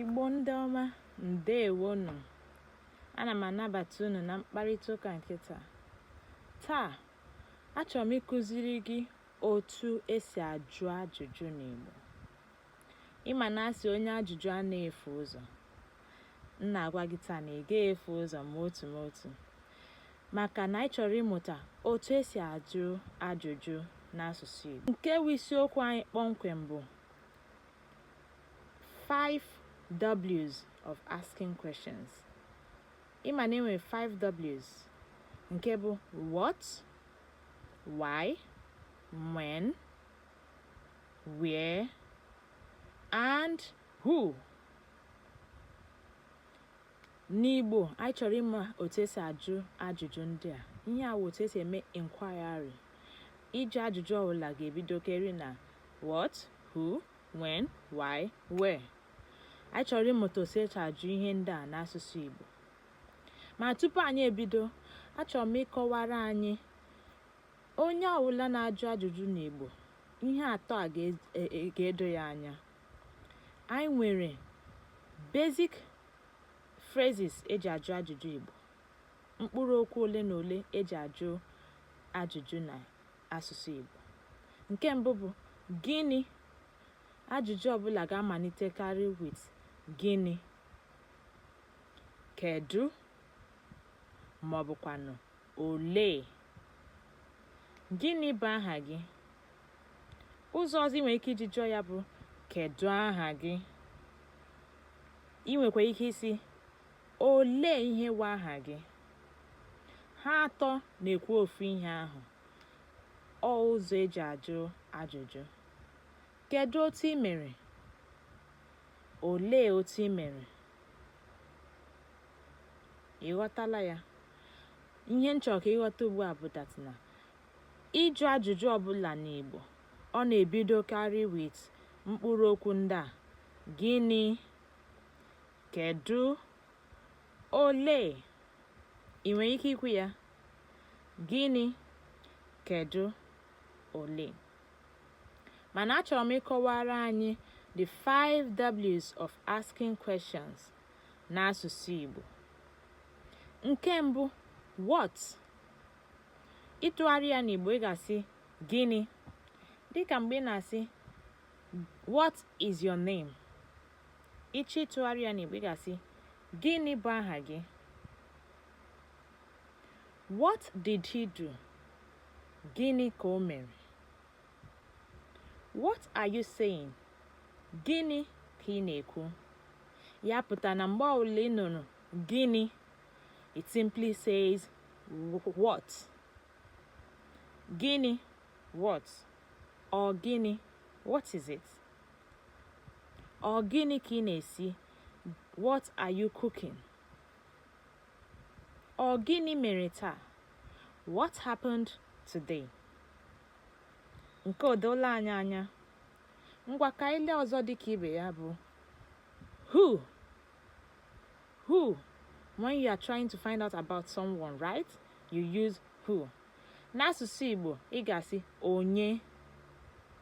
Igbo ndị ọma ndewonu ana m anabata unu na mkparịta ụka nke taa taa achọrọ m ịkụziri gị otu esi ajụ ajụjụ n'Igbo ị ma na a sị onye ajụjụ anaghị efu ụzọ m na-agwa gị taa na ị gaghị efu ụzọ ma otu ma otu maka na anyị chọrọ ịmụta otu esi ajụ ajụjụ n'asụsụ Igbo nke bụ isiokwu anyị kpọmkwem bụ Five W's of asking questions. Ị ma na enwere five W's nke bụ what, why, when, where, and who. N'Igbo, anyị chọrọ ịma otu esi ajụ ajụjụ ndị a. Ihe a wụ otu esi eme inquiry. Ịjụ ajụjụ ọbụla ga-ebidokarị na what, who, when, why, where. Anyị chọrọ ịmụta otu esi eji ajụ ihe ndị a n'asụsụ Igbo. Ma tupu anyị ebido, achọrọ m ịkọwara anyị onye ọbụla na-ajụ ajụjụ n'Igbo ihe atọ a e, e, ga-edo ya anya. Anyị nwere basic phrases eji ajụ ajụjụ Igbo, mkpụrụ okwu ole na ole eji ajụ ajụjụ na asụsụ Igbo nke mbụ bụ gịnị ajụjụ ọbụla ga-amalitekarị with gịnị kedu ma ọ bụkwanụ olee gịnị bụ aha gị ụzọ ọzọ ị nwere ike iji jụọ ya bụ kedu aha gị ị nwekwa ike ịsị Olee ihe wụ aha gị? Ha atọ na-ekwu ofu ihe ahụ. Ọ ụzọ eji ajụ ajụjụ. Kedụ otu i mere? Olee otu i mere? Ị ghọtala ya? Ihe m chọrọ ka ị ghọta ugbu a bụ that na ịjụ ajụjụ ọbụla n'Igbo ọ na-ebidokarị with mkpụrụ okwu ndị a gịnị Kedu? Olee? Ị nwere ike ikwu ya? Gịnị? Kedu? Olee? Mana achọrọ m ịkọwara anyị the five W's of asking questions n'asụsụ Igbo. Nke mbụ, what? Ịtụgharị ya n'Igbo ị ga-asị gịnị? Dịka mgbe ị na-asị what is your name? ị chọọ ịtụgharị ya n'Igbo ị ga-asị gịnị bụ aha gị what did he do gịnị ka o mere what are you saying gịnị ka ị na-ekwu ya pụta na mgbe ọbụla ị nụrụ gịnị it simply says what gịnị what ọ gịnị what is it Ọ gịnị ka ị na-esi? What are you cooking? Ọ gịnị mere taa? What happened today? Nke o doola anyị anya. Ngwa ka i lee ọzọ dị ka ibe ya bụ who who when you are trying to find out about someone right you use who n'asụsụ Igbo ị ga-asị onye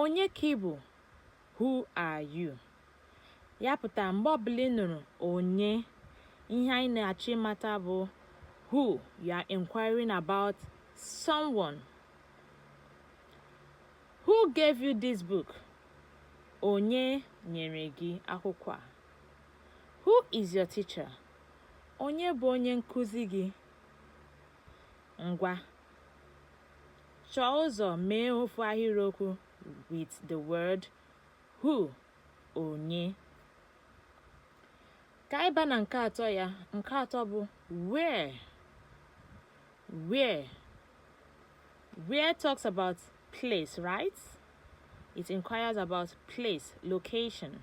Onye ka ị bụ? Who are you? Ya pụtara mgbe ọbụla ị nụrụ onye, ihe anyị na-achọ ịmata bụ who you are inquiring about someone. Who gave you this book? Onye nyere gị akwụkwọ a? Who is your teacher? Onye bụ onye nkụzi gị? Ngwa, chọọ ụzọ mee ofu ahịrịokwu with the word who, onye. Ka anyị baa na nke atọ ya, nke atọ bụ where. Where. Where talks about place, right? It inquires about place, location.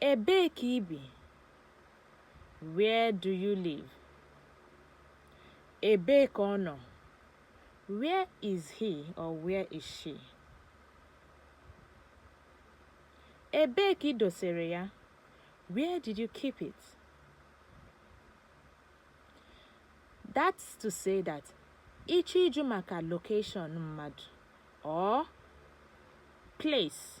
Ebee ka i bi? Where do you live? Ebee ka ọ nọ? Where is he or where is she? Ebee ka i dosere ya? Where did you keep it? That's to say that ị chọọ ịjụ maka location mmadụ or place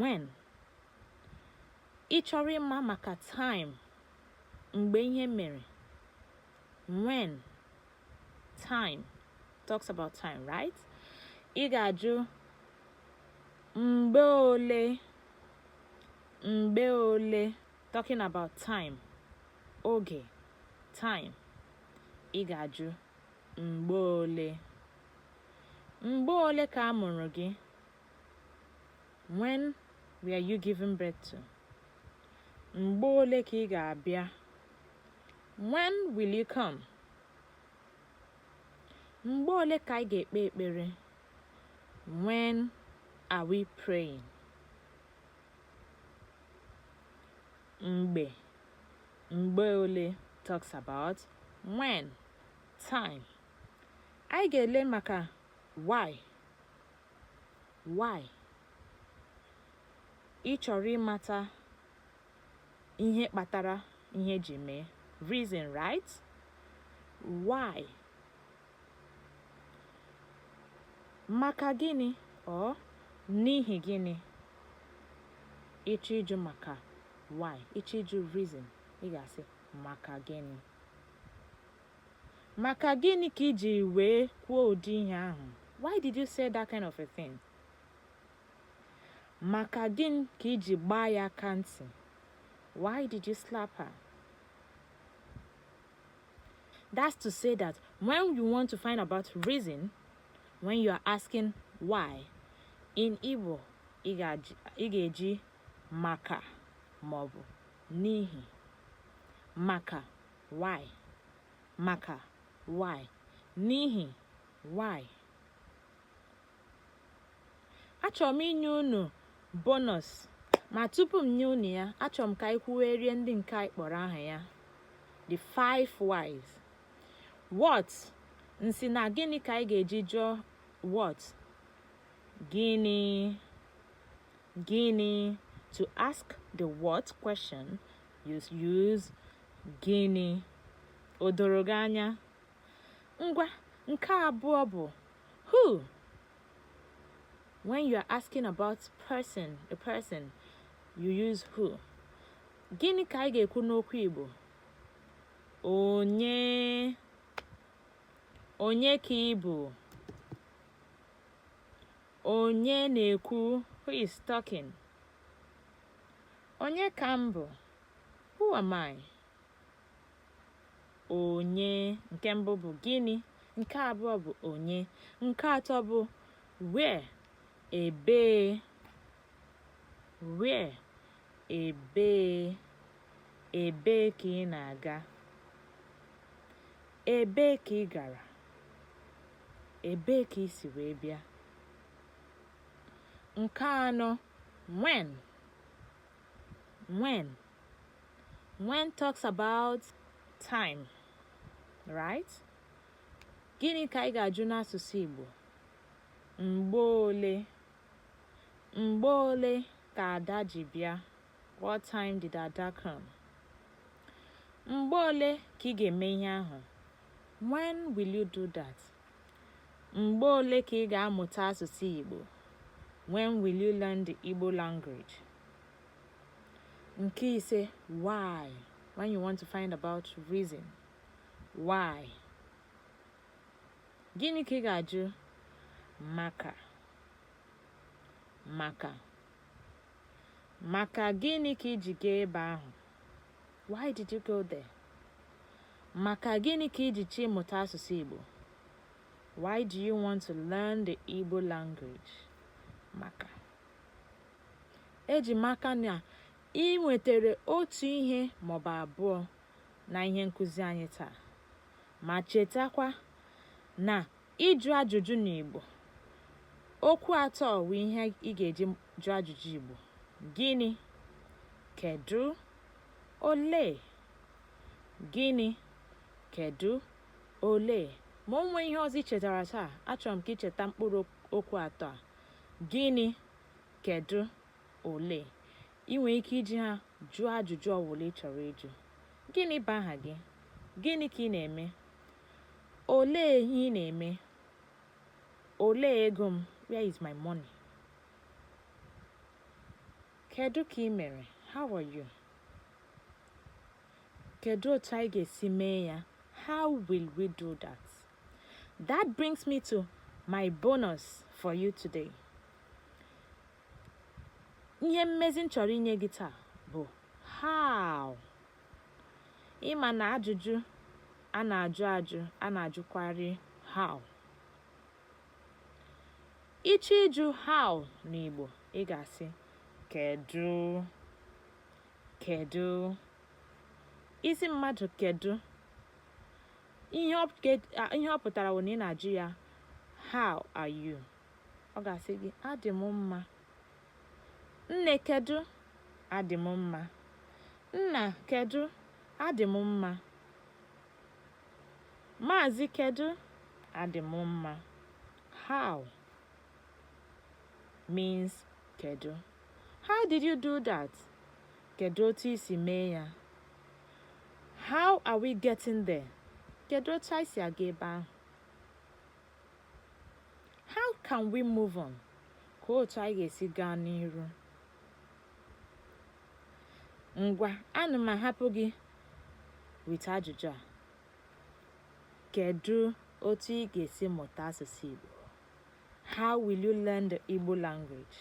when ị chọrọ ịma maka time mgbe ihe mere when time talks about time right ị ga-ajụ mgbe ole mgbe ole talking about time oge time ị ga-ajụ mgbe ole mgbe ole ka a mụrụ gị when were you given birth to mgbe ole ka ị ga-abịa when will you come mgbe ole ka anyị ga-ekpe ekpere when are we praying mgbe mgbe ole talks about when time anyị ga-ele maka why why ị chọrọ ịmata ihe kpatara ihe ji mee reason right why maka gịnị or n'ihi gịnị ị chọọ ịjụ maka why ị chọọ ịjụ reason ị ga-asị maka gịnị Maka gịnị ka i jiri wee kwuo ụdị ihe ahụ? Why did you say that kind of a thing? Maka gịnị ka i ji gbaa ya aka ntị? Why did you slap her? That's to say that when you want to find about reason, when you are asking why, in Igbo, ị ga-eji maka maọbụ n'ihi maka why maka why n'ihi why achọrọ m inye unu bonus ma tupu m nye unu ya achọrọ m ka anyị kwuwerie ndị nke anyị kpọrọ aha ya the five whys what m sị na gịnị ka anyị ga-eji jụọ what gịnị gịnị to ask the what question use gịnị o doro gị anya ngwa nke abụọ bụ who when you are asking about person a person you use who gịnị ka anyị ga-ekwu n'okwu Igbo onye onye ka ị bụ Onye na-ekwu? Who is talking? Onye ka m bụ? Who am I? Onye nke mbụ bụ gịnị? Nke abụọ bụ onye. Nke atọ bụ where? Ebee? Where? Ebee? Ebee ka ị na-aga? Ebee ka ị gara? Ebee ka i si wee bịa? Nke anọ, when. When. When talks about time, right? Gịnị ka anyị ga-ajụ n'asụsụ Igbo? Mgbe ole? Mgbe ole ka Ada ji bịa? What time did Ada come? Mgbe ole ka ị ga-eme ihe ahụ? When will you do that? Mgbe ole ka ị ga-amụta asụsụ Igbo? When will you learn the Igbo language? Nke ise, why? When you want to find about reason. Why? Gịnị ka ị ga-ajụ? Maka. Maka. maka gịnị ka i ji gaa ebe ahụ why did you go there maka gịnị ka i ji chọọ ịmụta asụsụ Igbo why do you want to learn the Igbo language maka eji m aka na i nwetara otu ihe maọbụ abụọ na ihe nkụzi anyị taa ma chetakwa na Ịjụ ajụjụ n'Igbo. Okwu atọ wụ ihe ị ga-eji jụọ ajụjụ Igbo. Gịnị? Kedụ? Olee? Gịnị? Kedụ? Olee? Ma o nwee ihe ọzọ i chetara taa, achọrọ m ka i cheta mkpụrụ okwu atọ a. Gịnị? Kedụ? Olee? I nwere ike iji ha jụọ ajụjụ ọwụla ị chọrọ ịjụ. Gịnị bụ aha gị? Gịnị ka ị na-eme? Olee ihe ị na-eme? Olee ego m? Where is my money? Kedu ka i mere? How are you? Kedu otu anyị ga-esi mee ya? How will we do that? That brings me to my bonus for you today. Ihe mmezi m chọrọ inye gị taa bụ how. ị ma na ajụjụ a na-ajụ ajụ a na-ajụkwarị how ị chọọ ịjụ how n'Igbo ị ga-asị kedu kedu ị sị mmadụ kedu ihe ọ pụtara bụ na ị na-ajụ ya how are you ọ ga-asị gị adị m mma Nne kedụ? Adị m mma. Nna kedụ? Adị m mma. Maazị kedụ? Adị m mma. How means kedụ. How did you do that? Kedụ otu i si mee ya? How are we getting there? Kedụ otu anyị si aga ebe ahụ? How can we move on? Ka otu anyị ga-esi gaa n'iru. Ngwa, ana m ahapụ gị with ajụjụ a. Kedu otu ị ga-esi mụta asụsụ Igbo? How will you learn the Igbo language?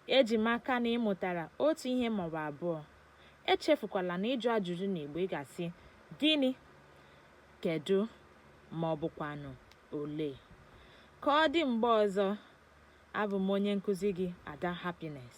Eji m aka na ị mụtara otu ihe ma ọ bụ abụọ. Echefukwala na ịjụ ajụjụ n'Igbo ị ga-asị gịnị? Kedụ, ma ọ bụkwanụ olee? Ka ọ dị mgbe ọzọ, abụ m onye nkụzi gị, Ada Happiness.